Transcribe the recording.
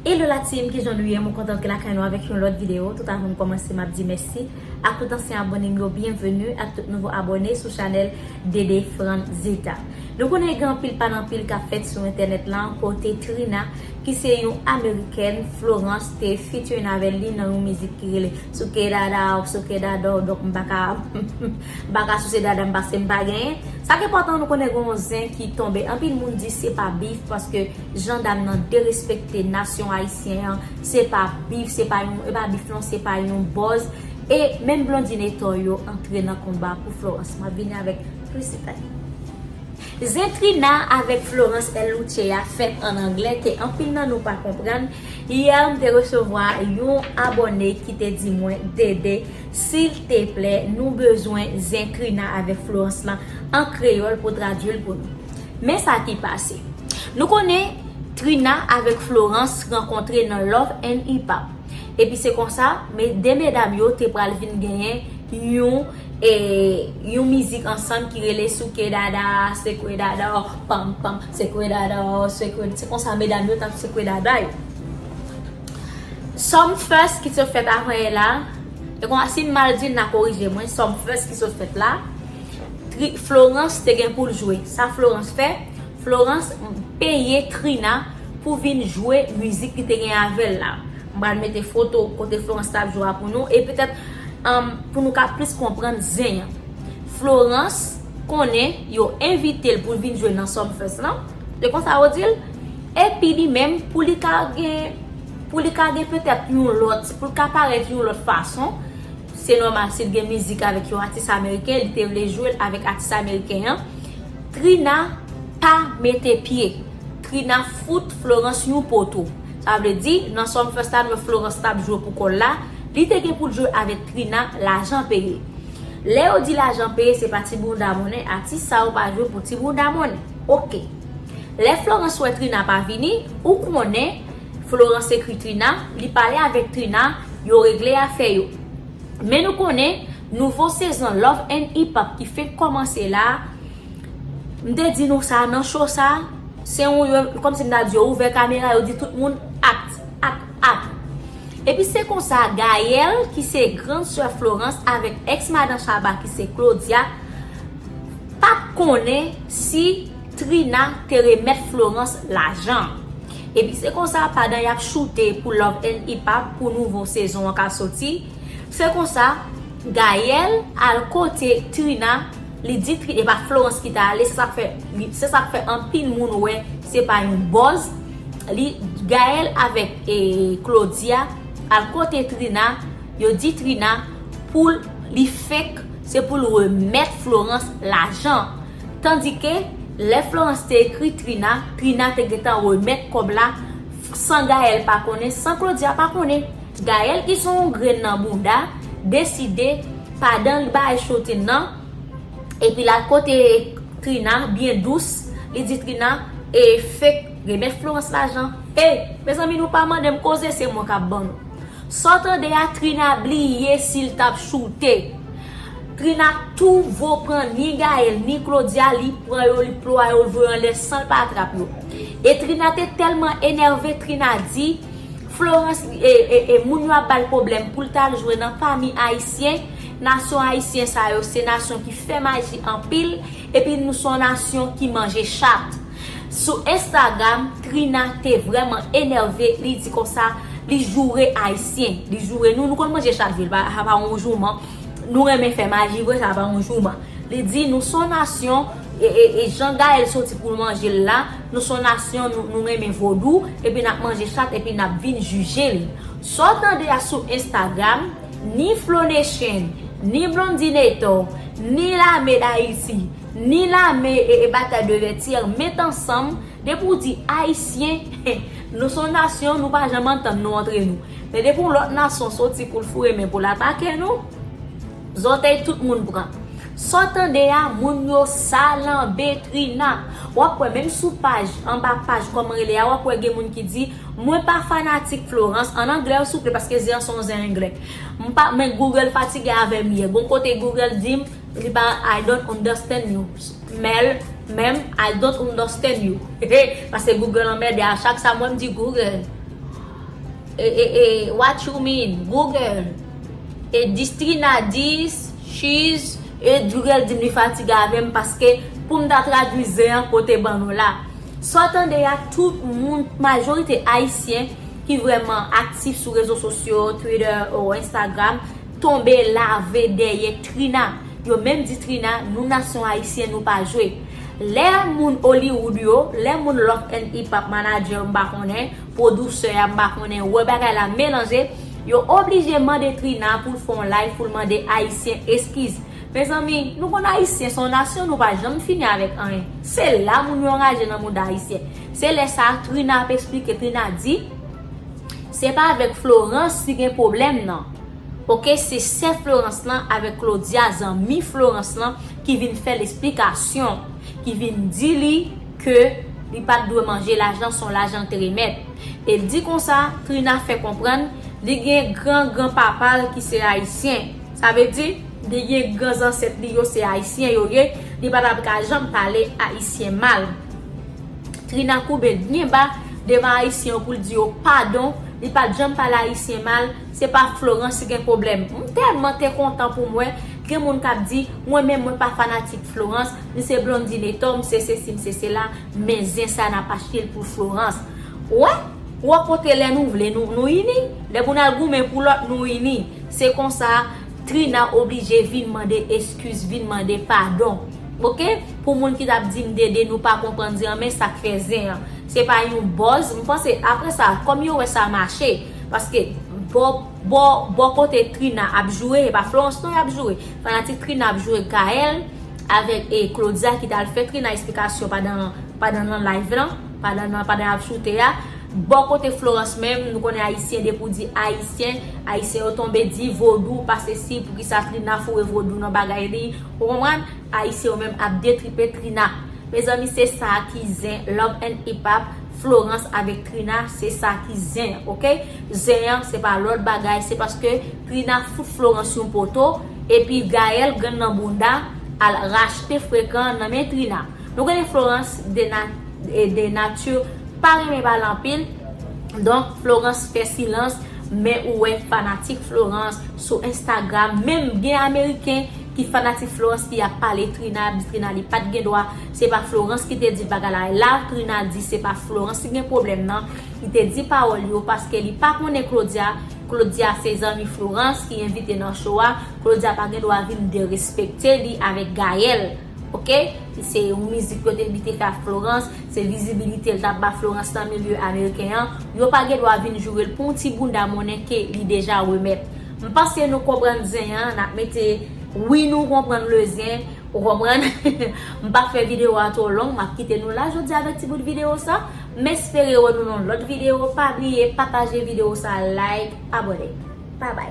Hello la team kijan nou ye mwen kontan antre lakay nou avèk yon lòt video tout avan m kòmanse map di mèsi ak tout ansyen abòne m yo byenveni ak tout nouvo abòne sou chanèl DD Frantzita nou konnen gen anpil pale anpil kap fèt sou entènèt lan kote Trina ki se yon amerikèn Florence te featuring avèl li nan yon mizik ki rele souke dada w souke dada w donk m paka m paka souse dada m paske m pa genyen sa k enpòtan nou konnen gen yon zen ki tonbe anpil moun di se pa beef paske Jan dam nan derespekte nasyon ayisyen an se pa bif se pa yon e pa bif non se pa yon bòz e menm Blondine e Tòy yo antre nan konba pou Florence map vini avèk plis detay. Zen Trina avèk Florence El Luce a fèt an anglè ke anpil nan nou pa konprann, yè m te resevwa yon abòne ki te di mwen DD silteplè nou bezwen Zen Trina avèk Florence lan an kreyòl pou tradui l pou nou. Men sa ki pase. Nou konnen Trina avèk Florence rankontre nan Love and Hip Hop. Epi se konsa, 2 medam yo te pral vin genyen yon yon mizik ansanm ki rele Souke Dada, Sekwe Dada w, Pam Pam, Sekwe Dada w, Sekwe. Se konsa medam yo t ap sekwe dada yo. Sumfest ki sot fèt apre la, e konsa si m mal di n na korije mwen, Sumfest ki sot fèt la, Tri Florence te gen poul jwe. Sa Florence fè? Florence peye Trina pou vin jwe mizik li te gen avèl la. M pral mete foto kote Florence tap jwe a pou nou e petèt pou nou ka plis konprann zen an. Florence konnen yo envite l poul vin jwe nan Sumfest lan, se konsa yo dil? Epi li menm pou li ka gen pou li ka gen petèt yon lòt, pou l ka parèt yon lòt fason, Se nòmal si l gen mizik avèk yon atis ameriken li te vle jwe l avèk atis ameriken an Trina pa mete pye Trina fout Florence yon poto sa vle di nan Sumfest la lè Florence t ap jwe pou kò l la li te gen pou l jwe avèk Trina lajan peye lè yo di lajan peye se pa ti bounda monnen atis sa yo pa jwe pou ti bounda monnen ok lè Florence wè Trina pa vini ou konnen Florence ekri Trina, li pale avèk Trina, yo regle afè yo. Men nou konnen, nouvo sezon Love and Hip Hop ki fenk kòmanse la, m te di nou sa nan show sa, se yon yo, kòm si m ta di yo ouvè kamera, yo di tout moun act, act, act. Epi se konsa Gaëlle ki se grand sè Florence avèk ex madan Shabba ki se Claudia, pa t konnen si. Trina te remèt Florence lajan an. Epi se konsa padan yap choute pou love and hip hop pou nouvo sezon an ka soti, se konsa Gaël al kote Trina li di Trina epa Florence ki ta ale se sak fè se sak fè anpil moun wè se pa yon buzz li Gaël avèk Claudia al kote Trina yo di Trina poul li fake se poul remèt Florence lajan Tandike, lè Florence te ekri Trina, Trina te gentan remèt kòb la san Gaëlle pa konnen, san Claudia pa konnen. Gaëlle ki son yon grenn nan bouda, deside padan li bay Chotin nan, epi l al kote Trina byen dous, li di Trina, E, fake, remèt Florence lajan. E, mezanmi nou pa mande m koze, se mwen k ap ban nou. Sa w tande a, Trina bliye si l t ap choute. Trina tou vo pran ni Gaëlle ni Claudia li pran yo li ploua yo li voye anlè san l pa atrap yo e Trina te tèlman enève Trina di Florence e moun yo ap ba l pwoblèm pou l t al jwe nan pami ayisyen nasyon ayisyen sa yo se nasyon ki fè maji anpil epi nou son nasyon ki manje chat sou instagram Trina te vrèman enève li di konsa li joure ayisyen li joure nou nou konn manje chat vre l pa yon jouman. Nou renmen fè maji vre sa pa yon jouman. Li di nou son nasyon e jan Gaëlle soti poul manje l la, nou son nasyon nou renmen vodou epi nap manje chat epi nap vin jije li. Sa w tande a sou Instagram, ni Flo Nation, ni Blondinator, ni lame d'Haiti, ni lame Bataille de Vertières met ansanm depi w di ayisyen, nou son nasyon nou pa janm antann nou antre nou. Men depi yon lòt nasyon soti pou l foure men pou l atake nou, zòtèy tout moun pran. Sa w tande a, moun yo salanbe Trina. W ap wè menm sou paj, anba paj kòman rele a, w ap wè gen moun ki di, Mwen pa fanatik Florence, an anglè o souple paske zen an se yon zen anglè. M pa, men Google fatige avè m yè. Gon kote Google di m, li pa, I don't understand you. Mel, menm, I don't understand you. Paske Google anmède a chak sa mwen m di Google. E what you mean Google E distrina dis Cheese E Google dim li fatige avem paske poum ta tradwi zen an kote ban nou la Sa w tande a tout moun majorite ayisyen ki vrèman aktif sou rezo sosyo Twitter ou Instagram tonbe lave dèyè Trina Yo menm di Trina nou nasyon ayisyen nou pa jwe Lè moun Hollywood yo lè moun Lock and Ipap manager m pa konnen Producer a m pa konnen wè bagay la melanje yo oblije mande Trina poul fè yon live poul mande ayisyen eskiz mezanmi nou konn ayisyen son nasyon nou pa janm fini avèk anyen se la moun yo anraje nan mouda ayisyen se lè sa Trina ap esplike Trina di se pa avèk Florence li gen problèm nan ok se sè Florence lan avèk Claudia zanmi Florence lan ki vin fèl esplikasyon ki vin di li ke li pat dwe manje lajan son lajan l te remèt e di konsa Trina fè konprann li gen gran gran papa l ki se ayisyen sa vle di li gen gran zansèt li yo se ayisyen yo ye li pa tap ka janm pale ayisyen mal Trina koube l byen ba devan ayisyen yo pou l di yo padon li pat janm pale ayisyen mal se pa Florence ki gen pwoblèm m tèlman te kontan pou m wè gen moun kap di mwen menm mwen pa fanatik Florence. M se Blondy Netho, m se sesi m se sela, men zen sa nap achte l pou Florence. Ou wè? Ou wè kote lè nou vle nou nou ini? Lè pou n al goumen pou lòt nou ini. Se konsa Trina oblije vin mande eskiz, vin mande padon. Ok? Pou moun ki tap di m Dede nou pa konprann zen an men sak fè zen an. Se pa yon buzz, m panse aprè sa kòm yo wè sa mache, paske bò bò bò kote Trina ap joure e pa Florence non yap joure. Fanatik Trina ap joure Gaëlle. Avèk e Claudia ki tal fè Trina esplikasyon padan padan nan live lan, padan nan padan yap choute a. Bò kote Florence menm, nou konnen ayisyen depi ou di ayisyen, ayisyen yo tonbe di vodou pa sesi poukisa Trina foure vodou nan bagay li, ou konprann? Ayisyen yo menm ap detripe Trina. Mezanmi se sa ki zen Love and Ipap, Florence avèk Trina se sa ki zen ok. Zen an se pa lòt bagay se paske Trina fout Florence yon poto. Epi Gaël grenn nan bounda al rachte frekan nan men Trina. Nou konnen Florence de nature pa renmen pale anpil donk Florence fè silans men ou wè fanatik Florence sou Instagram menm gen ameriken ki fanatik Florence ki ap pale Trina ap di Trina li pat gen dwa se pa Florence ki te di bagay la e la Trina di se pa Florence ki gen pwoblèm nan li te di pawòl yo paske li pa konnen Claudia Claudia se zanmi Florence ki envite nan show a, Claudia pa gen dwa vin derespekte li avèk Gaël ok, se yon mizik yo te li te fè ak Florence, se vizibilite l tap ba Florence nan milye ameriken an, yo pa gen dwa vin joure l pou yon ti bounda monnen ke li deja remèt. M panse nou konprann zen an, nap mete wi nou konprann le zen, ou konprann? M pap fè video a two long, map kite nou la jodi avèk ti bout video sa. M espere wè nou nan yon lòt video pa bliye pataje video sa like abone Babay.